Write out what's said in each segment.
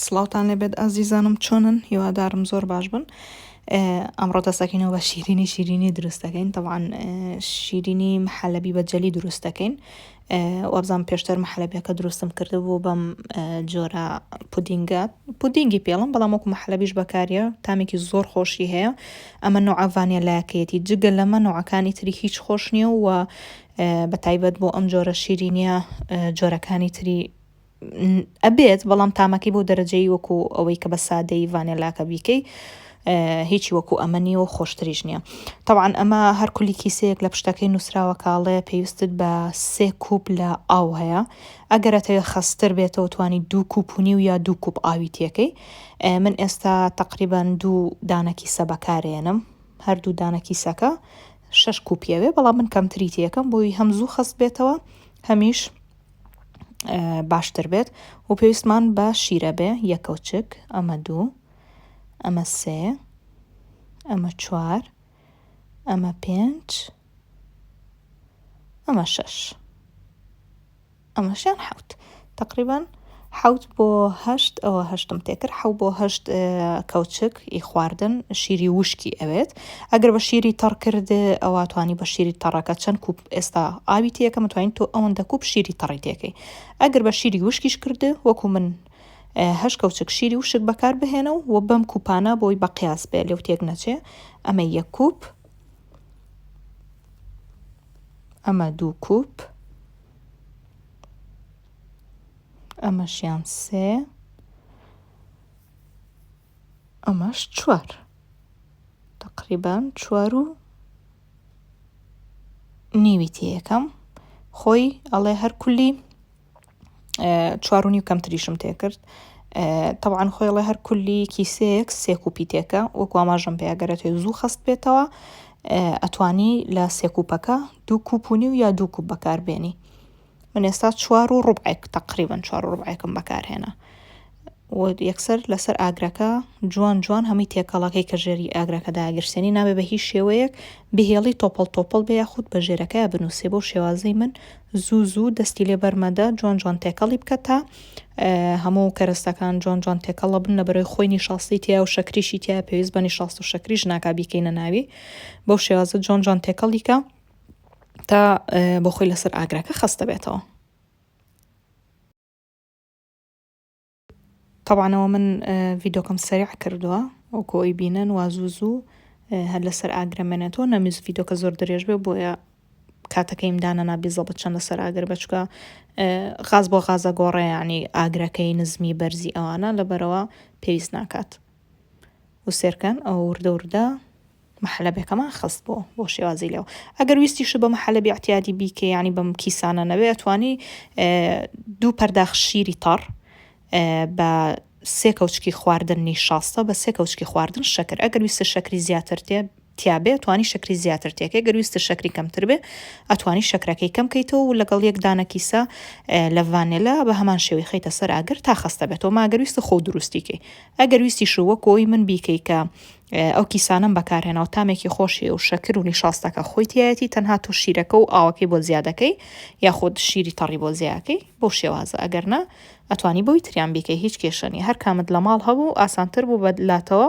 سڵاوتان لێبێت ئازیزانم چۆنن هیوادارم زۆر باش بن ئەمڕۆ دەستەکەینەوە بە شیرینی شیرینی دروست دەکەین تەوان شیرینی محەلەبی بە جەلی دروست دەکەین وابزان پێشتر محەلەبیەکە دروستم کردبوو بەم جۆرە پودینگە پودینگی پێڵم بەڵام وەکو محەلەبیش بەکاریە تامێکی زۆر خۆشی هەیە ئەمە نوعاڤانە لایەکەیەتی جگە لەمە نوعەکانی تری هیچ خۆش نییە و بە تایبەت بۆ ئەم جۆرە شیرینە جۆرەکانی تری ئەبێت بەڵام تامەکەی بۆ دەرەجەی وەکو ئەوەی کە بە سادەی ڤانێلاکە بیکەی هیچی وەکو ئەمە نیە و خۆشتریش نییە تاوان ئەمە هەر کولی کیسەیەک لە پشتەکەی نووسراوە کاڵێ پێویستت بە سێ کوپ لە ئاو هەیە ئەگەرەتەوێ خەستر بێتەوە توانی دوو کوپونی و یا دوو کوپ ئاوی تێکەی من ئێستا تقریبان دوو دانەکی سەبەکارێنم هەردوو دانەکی سەکە شش کوپیەوێ بەڵام من کەمتری تێکەم بۆی هەم زوو خەست بێتەوە هەمیش باشتر بێت و پێویستمان بە شیرە بێ یەکەوچک ئەمە دوو ئەمە سێ ئەمە چوار ئەمە پێنج ئەمە شەش ئەمەشیان حوت تقریبان حەوت بۆ هەشت ئەوە هەشتم تێکرد حەو بۆ هەشت کەوچک ئی خواردن شیری وشکی ئەوێت ئەگەر بە شیری تەڕ کرد ئەوە توانی بە شیری تەڕەکە چەند کوپ ئێستا ئاوی تێکە متوانین تۆ ئەوەن دەکوب شیری تەڕی تێکەی ئەگەر بە شیری وشکیش کرد وەکو من هەش کەوچک شیری وشک بەکار بهێنە و بەم کوپانە بۆی بە قیاس بێ لەو تێک نەچێ ئەمە یەک کوپ ئەمە دوو کوپ ئەمەشیان سێ ئەمەش چوار تقریبان چوار و نیوی تێ یەکەم خۆی ئەڵێ هەر کولی چوار و نیو کەمتریشم تێکرد طبعاان خۆیڵە هەر کولی کیسەیەک سێک و پیتێکە وەکو ئاماژم پێگەرێتێ زوو خەست بێتەوە ئەتوانی لە سێکوپەکە دوو کوپونی و یا دوو کوپ بەکاربێنی من ئێستا چوار و ڕوبعێک تقریبن چوار و ڕوبعێکم بەکارهێنا و یەکسەر لەسەر ئاگرەکە جوان جوان هەمووی تێکەڵەکەی کە ژێری ئاگرەکە داگرسێنی نابێ بە هیچ شێوەیەک بهێڵی تۆپەڵ تۆپەڵ بێ یاخود بە ژێرەکەی بنووسێ بۆ شێوازی من زوو زوو دەستی لێ بەرمەدە جوان جوان تێکەڵی بکە تا هەموو کەرستەکان جوان جوان تێکەڵە بن لە بەرەوەی خۆی نیشاستی تیا و شەکریشی تیا پێویست بە نیشاست و شەکریش ناکا بیکەینە ناوی بەو شێوازە جوان جوان تێکەڵیکە تا بۆ خۆی لەسەر ئاگرەکە خەستە بێتەوە طبعاەوە من ڤیدۆکەم سریع کردووە ئەو کۆی بینن وازوو زوو هەر لەسەر ئاگرەمێنێتەوە نەمیز ڤیدۆکە زۆر درێژ بێ بۆیە کاتەکەیم دانە نابیزە بە چەندە سەر ئاگر بەچکە غاز بۆ غازە گۆڕێ ینی ئاگرەکەی نزمی بەرزی ئەوانە لەبەرەوە پێویست ناکات وسێرکەن ئەو وردە وردە محەلەبێکەمان خست بۆ بۆ شێوازی لێو ئەگەر ویستیش بە محەلەبی اعتیادی بیکە ینی بەم کیسانە نەوێ ئەتوانی دوو پەرداخ شیری تەڕ بە سێ کەوچکی خواردننی شاستە بە سێ کەوچکی خواردن شەکر ئەگەر ویستە شەکری زیاتر تێ تیابێ ئەتوانی شەکری زیاتر تێکەی گەر ویستت شەکری کەمتر بێ ئەتوانی شەکرەکەی کەم کەیتەوە و لەگەڵ یەک دانە کیسە لە ڤانێلا بە هەمان شێوی خەیتە سەر ئاگر تا خەستە بێتەوە ماگەر ویستە خۆ دروستیکەی ئەگەر ویستی شووە کۆی من بیکەی کە ئەو کیسانم بەکارهێنا و تامێکی خۆشی و شەکر و نیشاستەکە خۆی تایەتی تەنها تۆ شیرەکە و ئاوەکەی بۆ زیادەکەی یاخود شیری تەڕی بۆ زیاکەی بۆ شێوازە ئەگەر نا ئەتوانی بۆی تریان بیکەی هیچ کێشەنی هەر کامت لە ماڵ هەبوو ئاسانتر بوو بە لاتەوە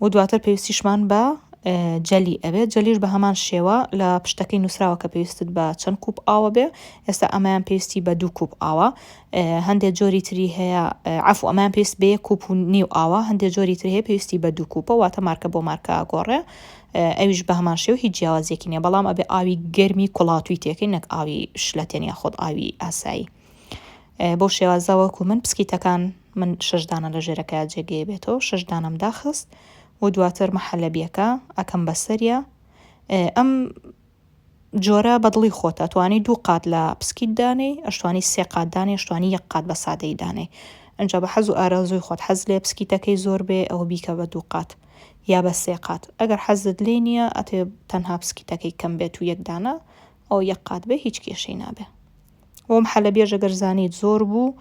و دواتر پێویستیشمان بە جەلی ئەبێت جەلیش بە هەمان شێوە لە پشتەکەی نووسراوە کە پێویستت بە چەند کوپ ئاوە بێ ئێستا ئەمایان پێویستی بە دوو کوپ ئاوە هەندێک جۆری تری هەیە عفو ئەمان پێویست بە یەک کوپ و نیو ئاوە هەندێک جۆری تر هەیە پێویستی بە دوو کوپە واتە مارکە بۆ مارکە گۆڕێ ئەویش بە هەمان شێو هیچ جیاوازێکی نیە بەڵام ئەبێ ئاوی گەرمی کوڵاتوی تێکەی نەک ئاوی شلەتێن یا خۆت ئاوی ئاسایی بەو شێوازە وەکو من بسکیتەکان من شەش دانە لە ژێرەکەیا جێگەیە بێتەوە شەش دانەم داخست و دواتر محەلەبیەکە ئەکەم بەسەریا ئەم جۆرە بەدڵی خۆتە توانی دوو قات لە پسکیت دانێ ئەشتوانی سێ قات دانێ ئەشتوانی یەک قات بە سادەی دانێ ئەجا بە حەز و ئارازوی خۆت حەز لێ پسکیتەکەی زۆر بێ ئەوە بیکە بە دوو قات یا بە سێ قات ئەگەر حەزت لێ نییە ئەتێ تەنها پسکیتەکەی کەم بێت و یەکدانە ئەو یەک قات بێ هیچ کێشەی نابێ وەم حەلە بێژە گەر زانیت زۆر بوو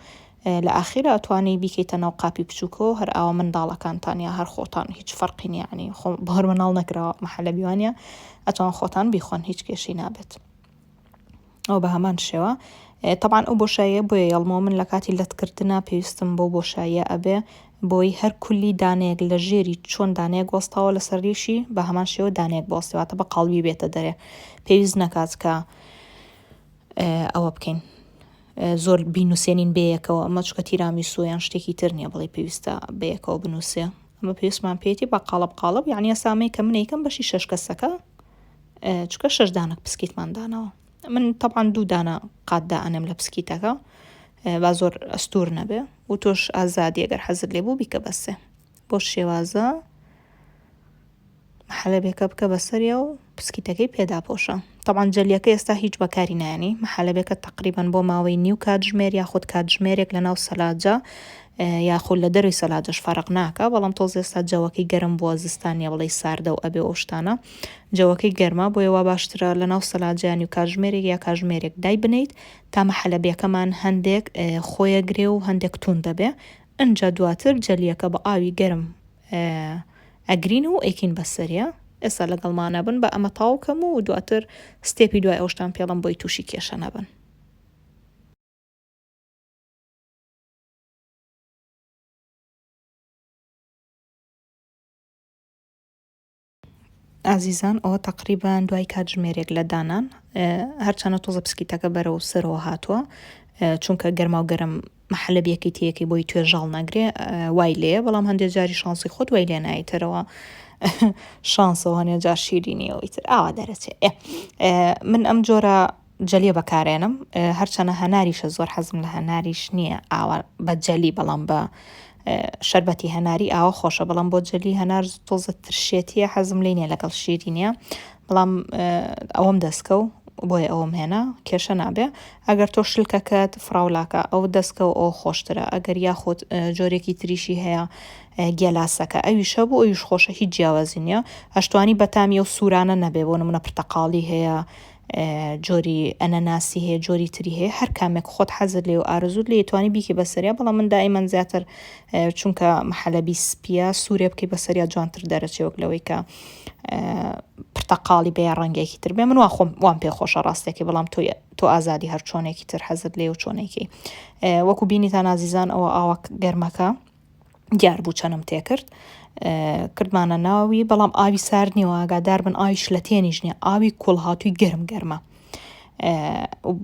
لە ئاخیرا ئەتوانی بیکەیتە ناو قاپی بچووکەوە هەر ئاوا منداڵەکانتان یا هەر خۆتان هیچ فەرقی نییە یعنی خۆ بۆ هەر مناڵ نەکراوە محەلە بیوانە ئەتوان خۆتان بیخۆن هیچ کێشەی نابێت ئەو بە هەمان شێوە طبعا ئەو بۆشاییە بۆیە یەڵمەوە من لە کاتی لەتکردنا پێویستم بۆ بۆشاییە ئەبێ بۆی هەر کولی دانەیەک لە ژێری چۆن دانەیەک وەستاوە لەسەر ریشی بە هەمان شێوە دانەیەک بۆستیواتە بە قاڵبی بێتە دەرێ پێویست نەکات کە ئەوە بکەین زۆر بینوسێنین بەیەکەوە ئەمە چکە تیرامیسۆ یان شتێکی تر نییە بڵێ پێویستە بەیەکەوە بنووسێ ئەمە پێویستمان پێێتی بە قاڵب قاڵب یعنی سامەیە کە منێکم بەشی شش کەسەکە چکە شش دانک پسکیتماندانەوە من تەعاان دوو دانە قاتدا ئەنم لە پسکیتەکە با زۆر ئەستور نەبێ و تۆش ئازادی گەر حەزت لێ بوو بیکە بەسێ بۆ شێوازە محەلەبێکە بکە بەسەریا و پسکیتەکەی پێداپۆشە طبعا جەلیەکە ئێستا هیچ بەکاری نانی محەلەبێکە تقریبان بۆ ماوەی نیو کاتژمێر یاخود کاتژمێرێک لە ناو سەلاجە یاخود لە دەروی سەلاجەش فەرق ناکە بەڵام تۆز ئێستا جەوەکەی گەرم بووە زستانە بڵێ ساردە و ئەبێ ئەوشتانە جەوەکەی گەرما بۆ یەوە باشترە لە ناو سەلاجیانی و کاژمێرێک یا کاژمێرێک دای بنیت تا محەلەبیەکەمان هەندێک خۆیەگرێ و هەندێک تون دەبێ ئنجا دواتر جەلیەکە بە ئاوی گەرم ئەگرین و ئەیکین بە سەریا ئێستا لەگەڵ مانەبن بە ئەمە تاوکەم و دواتر ستێپی دوای ئەوشتان پێڵم بۆی تووشی کێشە نەبن ئازیزان ئەوە تەقریبان دوای کاتژمێرێک لە دانان هەرچەنە تۆزە پسکیتەکە بەرەو سەرەوە هاتووە چونکە گەرما و گەرم محلە بەکیتەکەی بۆی توێژاڵ ناگرێ وای لێ بەڵام هەندێک جاری شانسی خۆت وای لێ نایتەرەوە شانسەوە هەنێ جار شیرینیەوەی تر ئاوا دەرەچێ من ئەم جۆرە جەلی بەکارێنم هەرچەنە هەناریشە زۆر حەزم لە هەناریش نییە ئاوا بە جەلی بەڵام بە شربەتی هەناری ئاوا خۆشە بەڵام بۆ جەلی هەنار تۆزە ترشێتیە حەزم لێ نیە لەگەڵ شیری نیە بەڵام ئەوەم دەستکە و بۆیە ئەوم هێنا کێشە نابێ ئەگەر تۆ شلکەکەت فراولاکە ئەو دەستکە و ئەو خۆشترە ئەگەر یاخود جۆرێکی تریشی هەیە گێلاسەکە ئەوی شە بوو ئەویش خۆشە هیچ جیاوازی نیە ئەشتوانی بەتامی و سوورانە نەبێ بۆ نمونە پرتەقاڵی هەیە جۆری ئەنەناسی هەیە جۆری تری هەیە هەر کامێک خۆت حەزت لێ و ئارزوت لێ توانی بیکە بەسەریا بەڵام من دائیمەن زیاتر چونکە محەلەبی سپیە سوورێ بکەی بەسەریا جوانتر دەرەچێ وەک لەوەی کە پرتەقاڵی بەیە ڕەنگێکی تر بێ من وا خۆم وام پێ خۆشە ڕاستێکی بەڵام تۆ تۆ ئازادی هەر چۆنێکی تر حەزت لێ و چۆنێکی وەکو بینیتان نازیزان ئەوە ئاوە گەرمەکە دیار بوو چەنم تێکرد کردمانە ناوی بەڵام ئاوی سارد نیوە ئاگادار بن ئاوی شلە تێنیش نیە ئاوی کوڵهاتووی گەرم گەرمە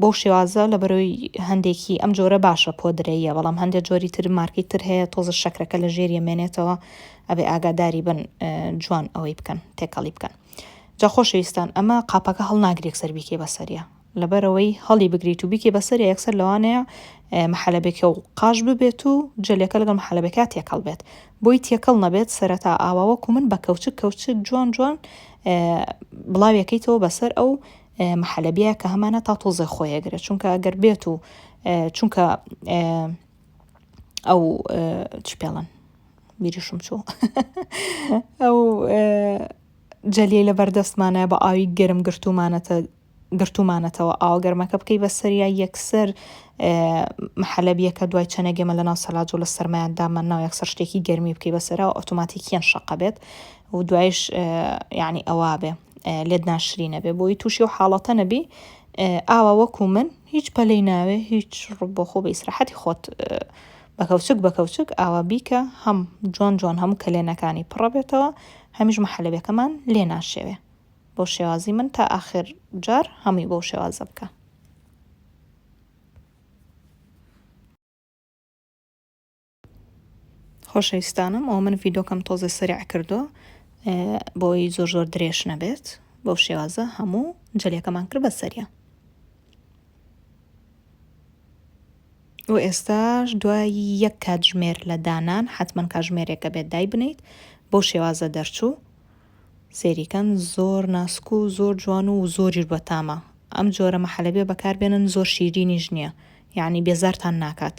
بەو شێوازە لە بەرەوەی هەندێکی ئەم جۆرە باشە پۆدرەیە بەڵام هەندێک جۆری تر مارکی تر هەیە تۆزە شەکرەکە لە ژێریە مێنێتەوە ئەبێ ئاگاداری بن جوان ئەوەی بکەن تێکەڵی بکەن جا خۆشەویستان ئەمە قاپەکە هەڵناگرێک سەربیکێ بەسەریە لەبەرئەوەی هەڵیبگریت و بیکەی بەسەریا یەکسەر لەوانەیە محەلەبێکە و قاش ببێت و جەلێکە لەگەڵ محەلەبێکا تێکەڵ بێت بۆی تێکەڵ نەبێت سەرەتا ئاوا وەکو من بە کەوچک کەوچک جوان جوان بڵاویەکەیتەوە بەسەر ئەو محەلەبیە کە هەمانە تا تۆزێ خۆیەگرێت چونکە ئەگەر بێت و چونکە ئەو چ پێڵن بیریشم چوو ئەو جەلیە لە بەردەستمانە بە ئاوی گەرم گرتومانەتە گرتومانەتەوە ئاوە گەرمەکە بکەی بە سەریا یەکسەر حەلەبیەکە دوای چەنێک گێمە لە ناو سەلاجۆ لە سەرمایان دامان ناو یەکسەر شتێکی گەرمی بکەی بەسەرەوە ئۆتۆماتیکیان شەقە بێت و دوایش یعنی ئەوا بێ لێت ناشری نەبێ بۆی تووشی و حاڵەتە نەبی ئاوا وەکو من هیچ پەلەی ناوێ هیچ ڕبۆ خۆ بە ئیسراحەتی خۆت بەکەوچک بەکەوچک ئاوا بیکە هەم جۆن جۆن هەموو کەلێنەکانی پڕە بێتەوە هەمیش محەلەبەکەمان لێ ناشێوێ بۆ شێوازی من تا ئاخر جار هەمووی بۆ شێوازە بکە. خۆشەویستانم ئەو من ڤیدۆکەم تۆزە سەرع کردو بۆی زۆر زۆر درێژ نەبێت بۆ شێوازە هەموو جلەکەمان کرد بە سەریە و ئێستاش دوای یەک کاتژمێر لە دانان حتمما کاژمێرێکە بێت دای بنیت بۆ شێوازە دەرچوو سەیری کەن زۆر ناسک و زۆر جوان و زۆریش بەتامە ئەم جۆرە مەحەلەبێ بەکاربێنن زۆر شیرینیش نیە یانی بێزارتان ناکات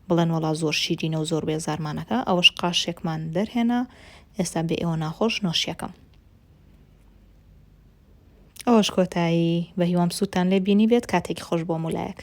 بڵێن وەڵا زۆر شیرینە و زۆر بێزارمان ئەکا ئەوەش قاشێکمان دەرهێنا ئێستا بێ ئێوە ناخۆش نۆشیەکەم ئەوەش کۆتایی بەهیوام سوودتان لێ بینی بێت کاتێکی خۆش بۆ مولایەک.